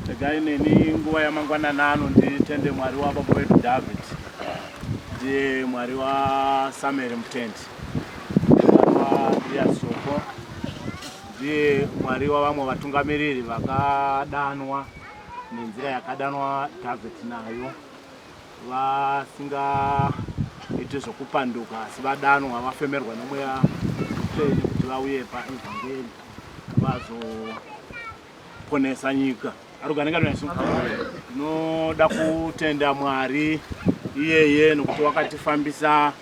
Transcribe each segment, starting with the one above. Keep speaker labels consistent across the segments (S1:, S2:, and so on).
S1: Tegai neni nguva yamangwanana ano nditende Mwari wababa wedu David ndiye Mwari waSamuel Mutendi ndiye Soko ndiye Mwari wavamwe vatungamiriri vakadanwa nenzira yakadanwa David nayo vasingaiti zvokupanduka asi vadanwa vafemerwa nemweya mutsvene kuti vauye paevhangeri vazoponesa nyika aruganenga nesu tinoda kutenda mwari iyeye nokuti wakatifambisa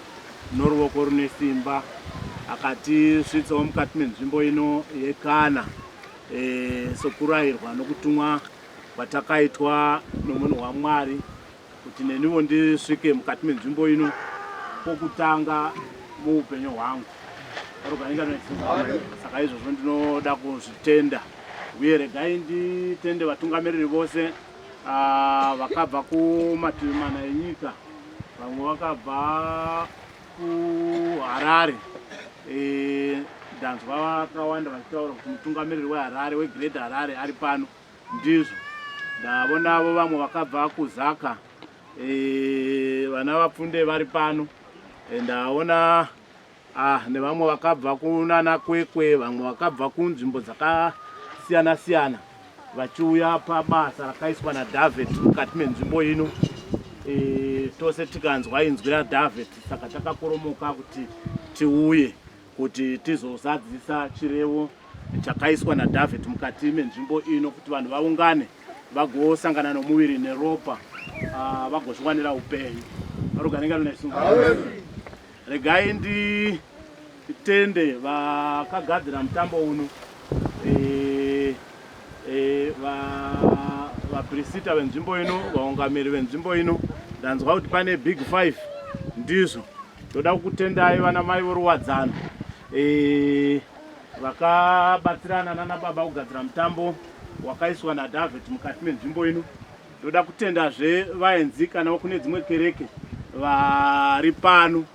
S1: noruoko rune simba akatisvitsawo mukati menzvimbo ino yekana e, sokurayirwa nokutumwa kwatakaitwa nomunhu wamwari kuti neniwo ndisvike mukati menzvimbo ino pokutanga muupenyu hwangu saka izvozvo ndinoda kuzvitenda uye regai nditende vatungamiriri vose ah, vakabva kumativi mana enyika vamwe vakabva kuharare eh, ndanzwa vakawanda vachitaura kuti mutungamiriri weharare wegreat harare ari pano Ndizvo ndavo navo vamwe vakabva kuzaka eh, vana vapfunde vari pano eh, ndaona ah, nevamwe vakabva kunana kwekwe vamwe vakabva kunzvimbo dzakasiyana siyana vachiuya pabasa rakaiswa nadavid mukati menzvimbo ino eh, tose tikanzwa inzwi radavid saka takakoromoka kuti tiuye kuti tizozadzisa chirevo chakaiswa naDavid mukati menzvimbo ino kuti vanhu vaungane vagosangana nomuviri neropa ah, vagozviwanira upenyu arugaringa lunaisunga regai nditende vakagadzira mutambo uno eh, vaprisita venzvimbo ino vaungamiri venzvimbo ino ndanzwa kuti pane big five ndizvo ndoda kukutendai vana mai voruwadzano e, vakabatsirana nana baba kugadzira mutambo wakaiswa nadavid mukati menzvimbo ino ndoda kutendazve vaenzi kana kune dzimwe kereke vari pano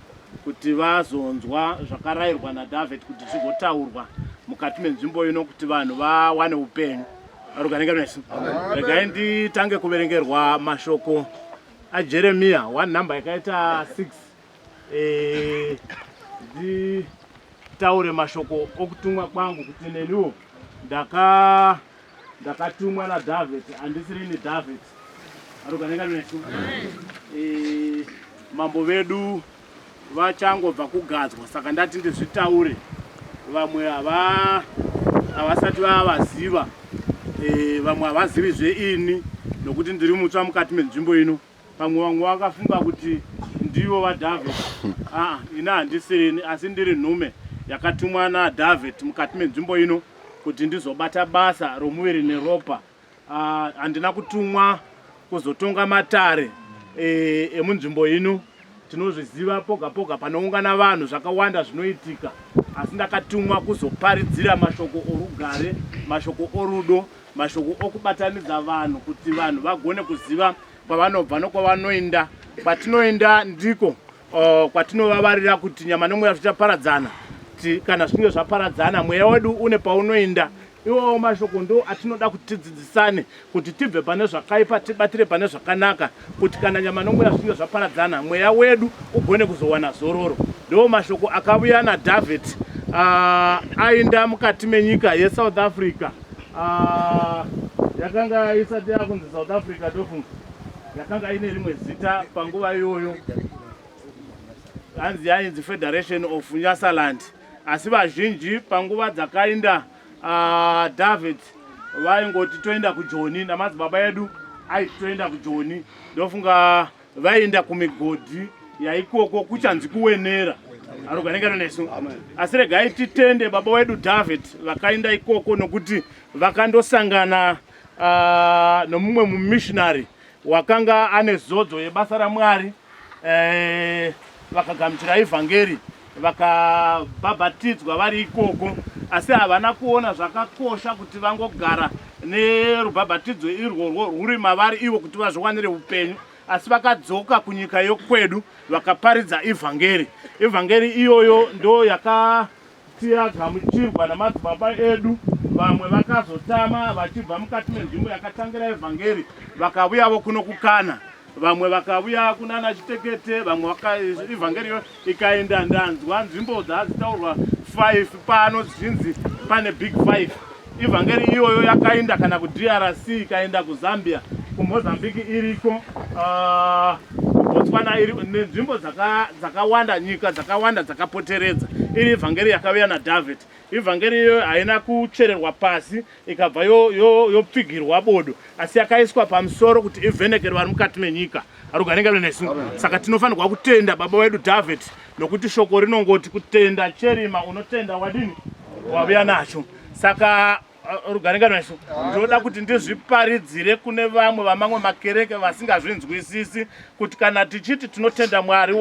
S1: kuti vazonzwa zvakarayirwa naDavid kuti zvigotaurwa mukati menzvimbo ino kuti vanhu vawane upenyu aruganenge nesu regai nditange kuverengerwa mashoko ajeremiya one number yakaita six eh, nditaure mashoko okutumwa kwangu kuti neniwo ndaka ndakatumwa naDavid handisirini David aruganeka nesu eh, mambo vedu vachangobva kugadzwa saka ndati ndizvitaure vamwe havasati vavaziva eh, vamwe havazivi zveini nokuti ndiri mutsva mukati menzvimbo ino Pamwe vamwe vakafunga kuti ndivo vaDavid. Aa, ini handisirini, asi ndiri nhume yakatumwa naDavid mukati menzvimbo ino kuti ndizobata basa romuviri neropa. Aa, handina kutumwa kuzotonga matare e, emunzvimbo ino. Tinozviziva poga poga panoungana vanhu zvakawanda zvinoitika, asi ndakatumwa kuzoparidzira mashoko orugare, mashoko orudo, Mashoko okubatanidza vanhu kuti vanhu vagone kuziva kwavanobva nokwavanoenda kwatinoenda ndiko uh, kwatinovavarira kuti nyama nomweya zvichaparadzana kana zvichinge zvaparadzana mweya wedu une paunoenda iwawo mashoko ndo atinoda kuti tidzidzisane kuti tibve pane zvakaipa tibatire pane zvakanaka kuti kana nyama nomweya zvinge zvaparadzana mweya wedu ugone kuzowana zororo ndo mashoko akavuya nadavid ah, aenda mukati menyika yesouth africa ah, yakanga isati yakunzi south africa ndofunga yakanga ine rimwe zita panguva iyoyo hanzi yainzi federation of nyasaland asi vazhinji panguva dzakainda Ah, David vaingoti toenda kujoni namadzibaba edu aiti toenda kujoni ndofunga vaienda kumigodhi yaikoko kuchanzi kuwenera aroganekana nesu asi regai titende baba wedu david vakaenda ikoko nokuti vakandosangana ah, nomumwe mumissionary wakanga ane zodzo yebasa raMwari eh, vakagamuchira evhangeri vakabhabhatidzwa vari ikoko asi havana kuona zvakakosha kuti vangogara nerubhabhatidzo irworwo rwuri mavari ivo kuti vazviwanire upenyu asi vakadzoka kunyika yokwedu vakaparidza evhangeri evhangeri iyoyo ndo yaka Tiagamuchirwa namadzibaba edu vamwe vakazotama vachibva mukati menzvimbo yakatangira evhangeri vakavuyavo kuno kukana vamwe vakavuya kunana chitekete vamwe ivhangeri yo ikaenda ndanzwa nzvimbo dzazitaurwa 5 pano dzichinzi pane big 5 Ivhangeri iyoyo yakainda kana ku DRC ikainda ku Zambia ku Mozambique iriko uh, Botswana iri nenzvimbo dzakawanda dzaka nyika dzakawanda dzakapoteredza iri ivhangeri yakaviya na David ivhangeri iyoyo haina kuchererwa pasi ikabva yopfigirwa yo, yo bodo asi yakaiswa pamusoro kuti ivhenekere vari mukati menyika arugaringa lwenesu saka tinofanirwa kutenda baba wedu David nokuti shoko rinongoti kutenda cherima unotenda wadini wavuya nacho saka uh, rugaringano yacho ndinoda kuti ndizviparidzire kune vamwe vamamwe makereke vasingazvinzwisisi kuti kana tichiti tinotenda mwari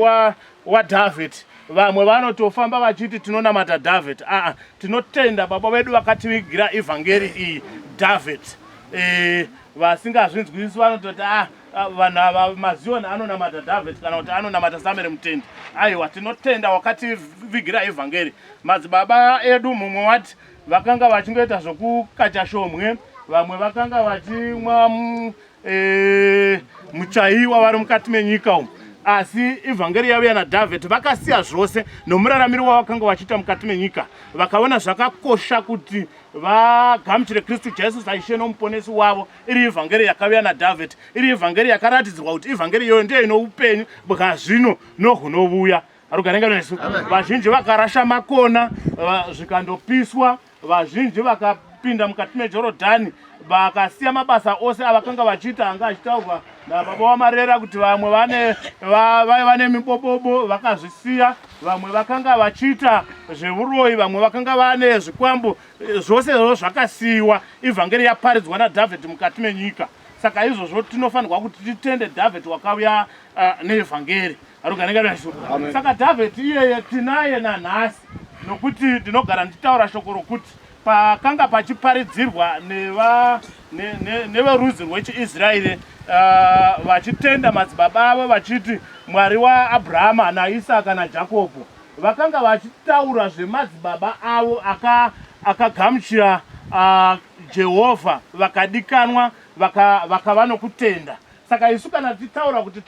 S1: wadhavhid wa vamwe vanotofamba vachiti tinonamata dhavhid aa tinotenda baba vedu vakativigira evhangeri iyi dhavhid e, vasingazvinzwisisi vanototi a ah, Ah, vanhu ava mazion anonamata david kana kuti anonamata samere mutendi aiwa tinotenda wakativigira evhangeri madzibaba edu mumwe wati vakanga vachingoita zvokukacha shomwe vamwe vakanga vachimwa mm, eh, muchaiwa vari mukati menyika umu asi evhangeri yavo yana david vakasiya zvose nomuraramiro wavakanga vachiita mukati menyika vakaona zvakakosha kuti vagamuchire kristu jesu saishe nomuponesi wavo iri ivhangeri yakaviya nadhavheti iri ivhangeri yakaratidzirwa kuti ivhangeri iyoyo ndiyo ino upenyu bwazvino nohunovuya rugarenga nesu vazhinji vakarasha makona zvikandopiswa vazhinji vakapinda mukati mejorodhani vakasiya mabasa ose avakanga vachiita anga achitaurwa nababa wamarera kuti vamwe vane vaiva vane mibobobo vakazvisiya vamwe vakanga vachiita zvevuroyi vamwe vakanga vane zvikwambo Zvose izvozvo zvakasiyiwa, ivhangeri yaparidzwa naDhavhidhi mukati menyika. Saka izvozvo tinofanirwa kuti titende Dhavhidhi wakauya uh, neevhangeri. Haruganekanaiso. Saka Dhavhidhi iyeye tinaye nanhasi, nokuti ndinogara ndichitaura shoko rokuti pakanga pachiparidzirwa neverudzi rwechiisraeri ah, vachitenda madzibaba avo vachiti mwari waabrahama naisaka najakobho Vakanga vachitaura zvemadzibaba avo akagamuchira aka uh, Jehovha vakadikanwa vakava vaka nokutenda. Saka isu kana tichitaura kuti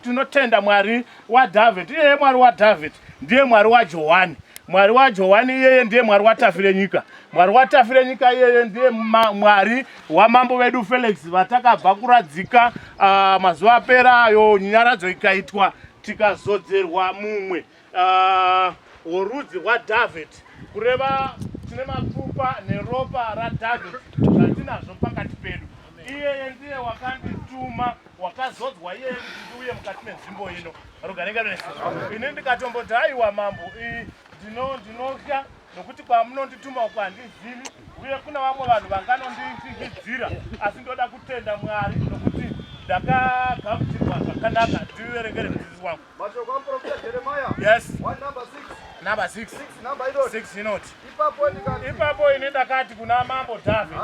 S1: tinotenda Mwari waDhavhidhi, iyeye Mwari waDhavhidhi ndiye Mwari waJohani. Mwari waJohani iyeye ndiye Mwari waTafirenyika. Mwari waTafirenyika iyeye ndiye Mwari wamambo vedu Felix vatakabva kuradzika uh, mazuva apera ayo nyaradzo ikaitwa Tikazodzerwa mumwe ah, worudzi rwaDhavhidhi, kureva tine mapfupa neropa raDhavhidhi zvatinazvo pakati pedu. Iyeye ndiye wakandituma, wakazodzwa iyeye kuti ndiuye mukati menzvimbo ino. Rogarenga rese. Ini ndikatomboti, haiwa mambo, ndinotya nokuti kwamunondituma uku handizivi uye kuna vamwe vanhu vanganondindigidzira asi ndoda kutenda mwari nokuti ndakagamutirwa zvakanaka ndiverengere mudzidzisi wangu mashoko amuprofita
S2: jeremaya yes number six six
S1: inoti ipapo
S2: ini ndakati
S1: kuna mambo dhavhid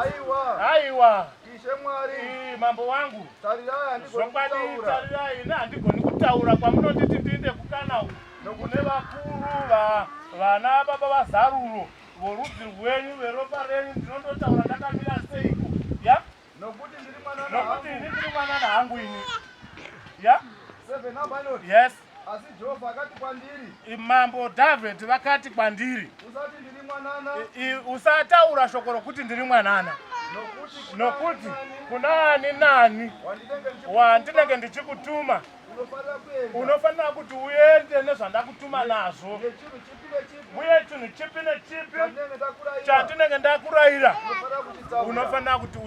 S1: aiwa
S2: ishe mwari
S1: mambo wangu tarirai
S2: ini
S1: handigoni kutaura kwamunonditi ndiinde kukana uku Nokune vakuru va vana baba vazaruro vorudzi rwenyu veropa renyu ndinondotaura ndakamira seiko ya nokuti ndiri mwana nokuti ini ndiri mwana nahangu ini ya seven
S2: abalot yes asi jehovha
S1: akati
S2: kwandiri mambo dhavhidhi
S1: vakati kwandiri usati ndiri
S2: mwanana usataura
S1: shoko rokuti ndiri mwanana nokuti kuna ani nani wandinenge ndichikutuma unofanira kuti uende nezvandakutuma nazvo uye chinhu chipi nechipi chandinenge ndakurayira unofanira kuti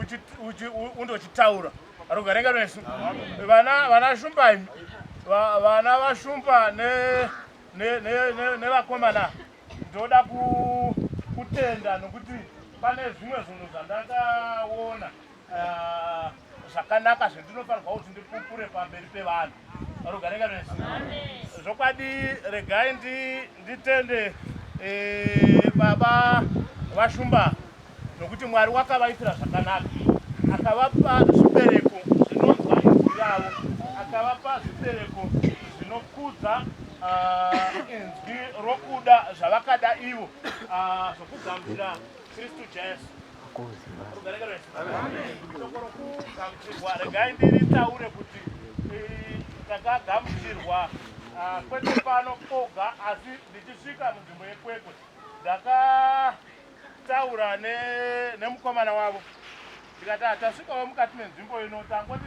S1: undochitaura rugarenga rwesu vana shumba imi vana vashumba nevakomana ndoda kutenda nokuti pane zvimwe zvinhu zvandakaona zvakanaka zvendinofanirwa kuti ndipupure pamberi pevanhu rugarenga rese zvokwadi regai nditende eh, baba vashumba nokuti mwari wakavaitira zvakanaka akavapa zvibereko zvinonzwa inzwi ravo akavapa zvibereko zvinokudza ah, inzwi rokuda zvavakada ivo ah, zvokugamuchira kristu jesu regai ndiritaure kuti eh, takagamuchirwa ah, kwete pano koga asi ndichisvika munzvimbo yekwekwe ndakataura nemukomana wavo ndikati hatasvikawo ah, mukati menzvimbo ino tangoti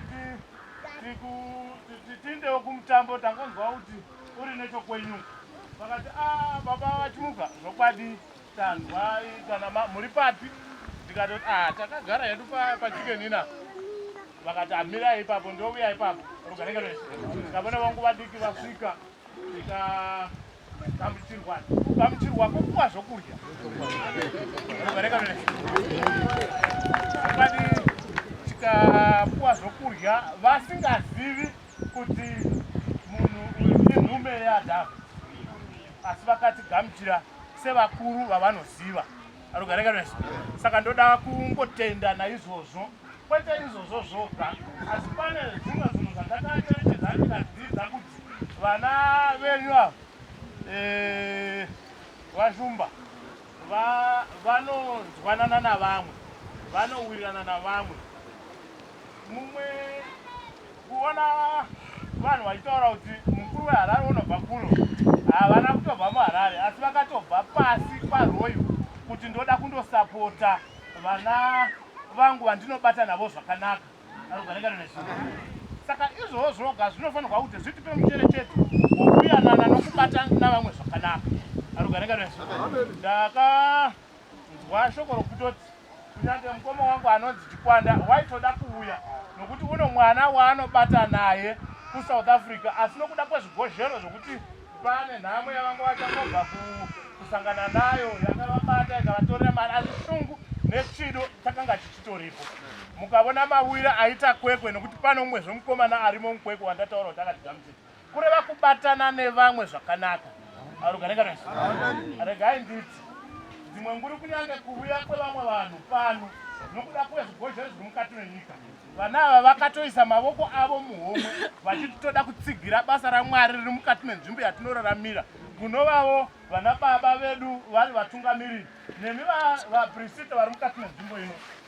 S1: tiindewo kumutambo tangonzwa kuti uri nechokwenyu vakati a ah, baba vachimuka zvokwadi Tanzwai kana ma, muri papi? Ndikatoti ah, takagara hedu pa, pachicken ina. Vakati amirai ipapo, ndouya ipapo. Rugarika rwese. Ndikavona vangu vadiki vasvika, tika gamuchirwa, gamuchirwa kupuwa zvokudya. Rugarika rwese. Zvakadii? Tikapuwa zvokudya vasingazivi kuti munhu uyu inhume yaAdhamu, asi vakatigamuchira. sevakuru vavanoziva arugareganes saka ndoda kungotenda naizvozvo kwete izvozvo zvoga asi pane zvimwe zvinhu zvandakacherechedza ndikadzidza kuti vana venyu ava eh, vashumba vanonzwanana navamwe vanowirirana navamwe Mumwe kuona vanhu vachitaura kuti mukuru weHarare unobva kuno havana kutobva muHarare asi vakatobva pasi kwaRoyo kuti ndoda kundosapota vana vangu vandinobata navo zvakanaka saka izvoo zvoga zvinofanirwa kuti zvitipe mucherechedzo wokuyanana nokubata navamwe zvakanaka arugarenga ndaka Nzwa shoko rokutoti kunyange mukoma wangu anonzi Chikwanda waitoda kuuya nokuti uno mwana waanobata naye kuSouth Africa asi nokuda kwezvigozhero zvokuti pane nhamo yavanga vachangobva kusangana nayo yakavabata ikavatorera mari asi shungu nechido chakanga chichitoripo mukavona mawira aita kwekwe nokuti pano umwezve mukomana arimo mukwekwe wandataura kuti akatigamuchira kureva kubatana nevamwe zvakanaka arugaregares regai nditi dzimwe nguri kunyange kuvuya kwevamwe vanhu pano nokuda kwezvigozhero zviri mukati menyika vana ava vakatoisa mavoko avo muhomwe vachiti toda kutsigira basa ramwari riri mukati menzvimbo yatinoraramira kunovavo vana baba vedu vari vatungamiriri nemi vaprisita vari mukati menzvimbo ino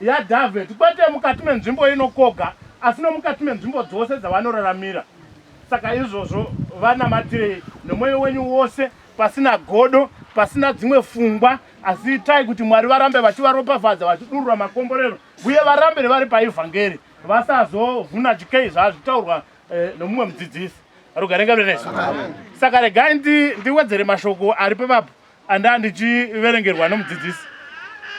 S1: yaDavid, kwete mukati menzvimbo ino kwoga, asi nomukati menzvimbo dzose dzavanoraramira. Saka izvozvo vanamatirei nomwoyo wenyu wose, pasina godo, pasina dzimwe fungwa, asi itai kuti Mwari varambe vachivaropafadza, vachidurura makomborero, uye varambe vari paevhangeri, vasazovhuna chikei zvazvitaurwa eh, nomumwe mudzidzisi. Rugare ngaruve nesu. Saka regai ndi, ndiwedzere mashoko ari pevapo Andaa ndichiverengerwa nomudzidzisi.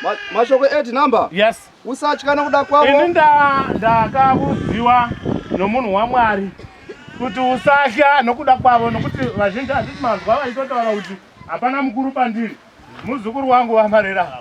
S1: Ma, mashoko
S2: eti number? Yes. Usatya
S1: nokuda kwavo.
S2: Ini
S1: ndakavudziwa nomunhu waMwari kuti usatya nokuda kwavo nokuti vazhinji handiti manzwa vaitotaura kuti hapana mukuru pandiri muzukuru wangu vamarera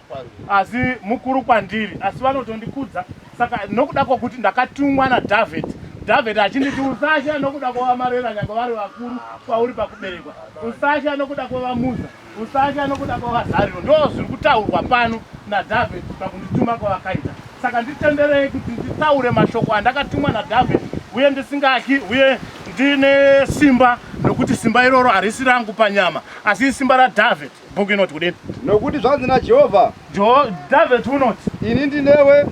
S1: asi mukuru kwandiri asi vanotondikudza saka nokuda kwokuti ndakatumwa nadhavheti dhavheti achinditi usatya nokuda kwovamarera nyange vari vakuru kwauri pakuberekwa usatya nokuda kwovamuza usatya nokuda kwovazariro ndo zviri kutaurwa pano nadhavheti pakundituma kwavakaita saka nditenderei kuti nditaure mashoko andakatumwa nadhavheti uye ndisingatyi uye ndine simba nokuti simba iroro harisi rangu panyama asi isimba radhavheti Bhuku inoti kudini? Nokuti zvanzi naJehovha,
S2: Dhavhidhi
S1: unoti, Ini ndinewe.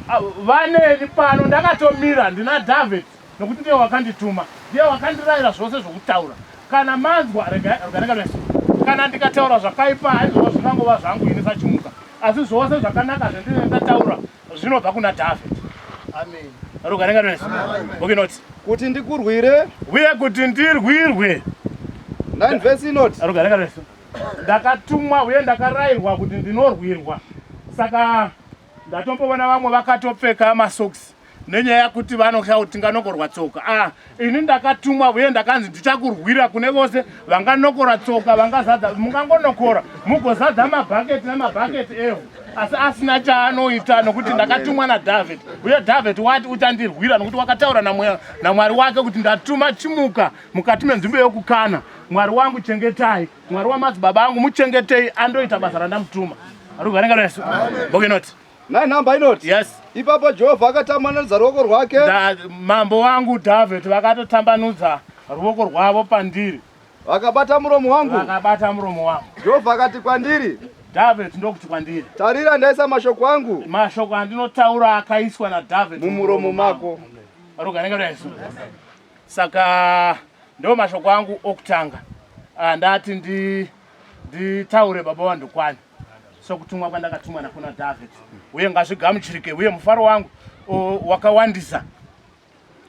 S1: Vaneni pano, ndakatomira ndina Dhavhidhi, nokuti ndiye wakandituma, ndiye wakandirayira zvose zvokutaura. Kana manzwa, regai regai kana ndikataura zvakaipa, haizvozvo zvingangova zvangu ini sachimuka, asi zvose zvakanaka zvendinenge ndataura zvinobva kuna Dhavhidhi. Amen. Regai regai regai. Bhuku inoti, Kuti ndikurwire.
S2: Uye kuti
S1: ndirwirwe. 9
S2: vhesi inoti. Regai regai regai.
S1: ndakatumwa uye ndakarairwa kuti ndinorwirwa saka ndatomboona vamwe vakatopfeka masocks nenyaya yakuti vanotya kuti tinganogorwa tsoka ah, ini ndakatumwa uye ndakanzi ndichakurwira kune vose vanganokora tsoka vangazadza mungangonokora mugozadza mabhaketi nemabhaketi ehu asi asina chaanoita nokuti ndakatumwa nadhavhidhi uye dhavhidhi wati uchandirwira nokuti wakataura namwari wake kuti ndatuma chimuka mukati menzvimbo yokukana mwari wangu chengetai mwari wamadzibaba angu muchengetei andoita basa randamutuma arikuvarengaresu bokenoti nine number inoti
S2: yes ipapo jehovha akatambanudza ruoko rwake mambo wangu
S1: dhavhidhi vakatotambanudza ruoko rwavo pandiri vakabata muromo
S2: wangu vakabata muromo wangu
S1: jehovha akati kwandiri
S2: dhavhidhi ndokuti
S1: kwandiri tarira ndaisa mashoko
S2: angu mashoko andinotaura
S1: akaiswa nadhavhidhi mumuromo mako
S2: arogarengaresu
S1: saka ndo mashoko angu okutanga ah, ndati ndi nditaure baba vandokwani sokutumwa kwandakatumwa nakuna david uye ngazvigamuchirike uye mufaro wangu wakawandisa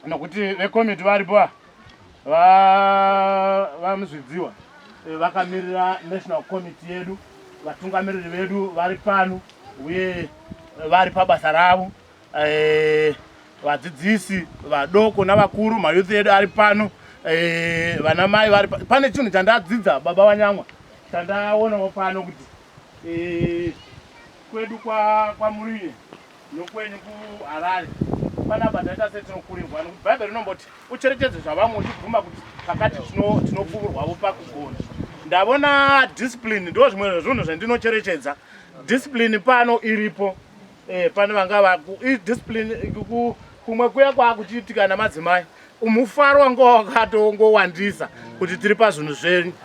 S1: nokuti vekomiti varipo vamuzvidziwa eh, vakamirira national committee yedu vatungamiriri vedu vari pano uye vari pabasa ravo Eh, vadzidzisi vadoko navakuru mayouth edu ari pano eh, vana mai vari pane chinhu chandadzidza baba vanyamwa chandaonawo pano kuti eh, kwedu kwamuruye nokwenyu kuharare panapa taita setinokurirwa nokuti bhaibheri rinomboti ucherechedzo zvavamwe uchibvuma kuti pakati tinopfuurwavo pakugona ndavona discipline ndo zvimwe zvezvinhu zvandinocherechedza discipline pano iripo Eh, pane vanga vaku discipline ku kumwe kuya kwakuchiitika namadzimai mufaro wanga wakatongowandisa kuti tiri pazvinhu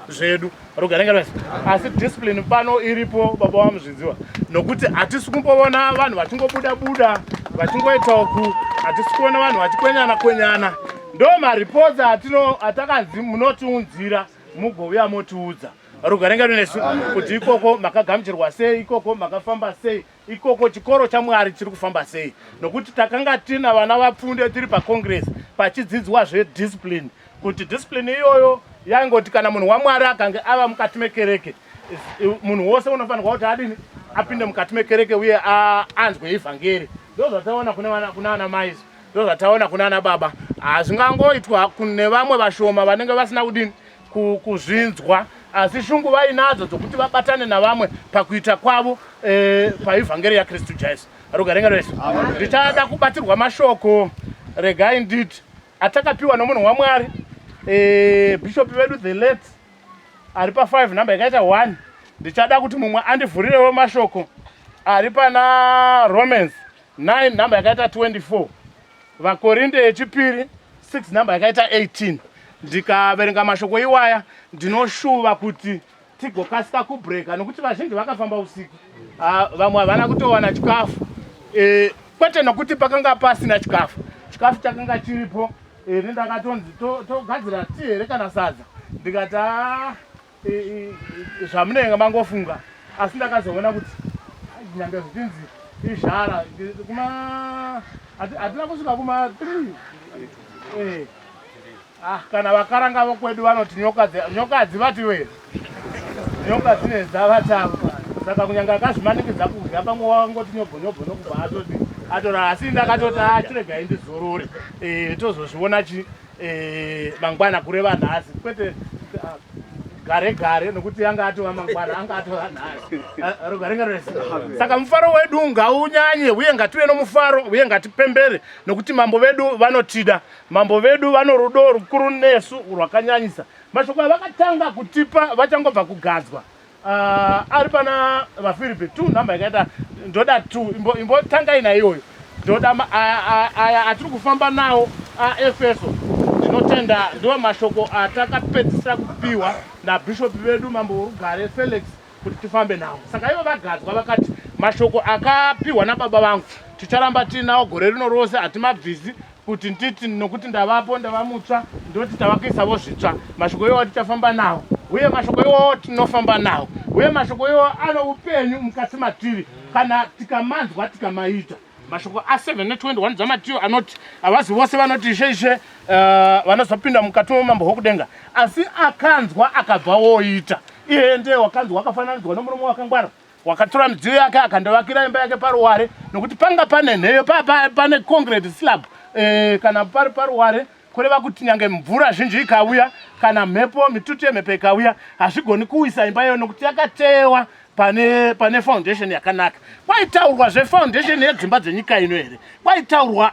S1: zvedu rogarenga asi discipline pano iripo baba wamuzviziwa nokuti hatisi kumboona vanhu vachingobuda buda vachingoita uku hatisi kuona vanhu vachikwenyana kwenyana ndo mareports atino atakanzi munotiunzira mugouya motiudza rogarenga nesu kuti ikoko makagamuchirwa sei ikoko makafamba sei ikoko chikoro chamwari chiri kufamba sei nokuti takanga tina vana vapfunde tiri pacongress pachidzidzwa zvediscipline kuti discipline iyoyo yaingoti kana munhu wamwari akange ava mukati mekereke munhu wose unofanirwa kuti adini apinde mukati mekereke uye anzwe evhangeri ndo zvataona kuna ana maizi ndo zvataona kuna ana baba hazvingangoitwa nevamwe vashoma vanenge vasina kudini kuzvinzwa asi shungu vainadzo dzokuti vabatane navamwe pakuita kwavo e, paivhangeri yakristu jesu rugarenga rwese ndichada kubatirwa mashoko regai nditi atakapiwa nomunhu wamwari e, bhishopi vedu the late ari pa 5 number yakaita 1 ndichada kuti mumwe andivhurirewo mashoko ari pana romans 9 number yakaita 24 vakorinde yechipiri 6 number yakaita 18 ndikaverenga mashoko iwaya ndinoshuva kuti tigokasika kubreka nokuti vazhinji vakafamba usiku ah, vamwe havana kutowana chikafu eh, kwete nokuti pakanga pasina chikafu chikafu chakanga chiripo eh, nendakatonzi togadzira ti here kana sadza ndikati ah, zvamunenge mangofunga asi ndakazoona kuti nyange zvichinzi izhara kuma hatina kusvika kuma three eh. ah, kana vakaranga vokwedu vanoti nyoka hadzivati we nyoka dzine dzavatamba saka kunyange akazvimanikidza kudya pamwe wangoti nyobhonyobho nokubva atoti atorara asi ndakatoti achiregai ah, ndizorore eh, tozozviona chii eh, mangwana kureva nhasi kwete ah, gare gare nokuti anga atova mangwana anga atova nhasi ah, rugare ngarese saka mufaro wedu ngaunyanye uye ngative nomufaro uye ngatipembere nokuti mambo vedu vanotida mambo vedu vano rudo rukuru nesu rwakanyanyisa mashoko avakatanga kutipa vachangobva kugadzwa Uh, ari pana vafiripi two number yakaita ndoda two imbotangai imbo naiyoyo ndoda aya atiri kufamba nawo aefeso ndinotenda ndiwo mashoko atakapedzisira kupiwa nabhishopi vedu mambo worugare felix kuti tifambe nawo saka ivo vagadzwa vakati mashoko akapiwa nababa vangu ticharamba tiinawo gore rino rose hatimabvisi kuti nditi nokuti ndavapo ndava mutsva ndoti tava kuisavo zvitsva mashoko iwawo tichafamba nawo uye mashoko iwawo tinofamba nawo uye mashoko iwawo ano upenyu mukati matiri kana tikamanzwa tikamaita mashoko a721 dzamatiyo anoti havazi vose vanoti ishe ishe uh, vanozopinda mukati momambo hwokudenga asi akanzwa akabva woita iye ndee wakanzwa wakafananidzwa nomurume wakangwara wakatora midziyo yake akandovakira imba yake paruware nokuti panga pane nheyo pa, pa, pane concrete slab e, kana pari paruware kureva kuti nyange mvura zhinji ikauya kana mhepo mitutu yemhepo ikauya hazvigoni kuwisa imba iyoyo nokuti yakateyewa pane pane foundation yakanaka kwaitaurwa zvefoundation yedzimba dzenyika ino here kwaitaurwa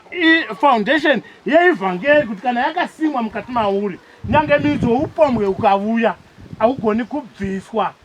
S1: foundation yeivhangeri kuti kana yakasimwa mukati mauri nyange midzo upombwe ukavuya haugoni kubviswa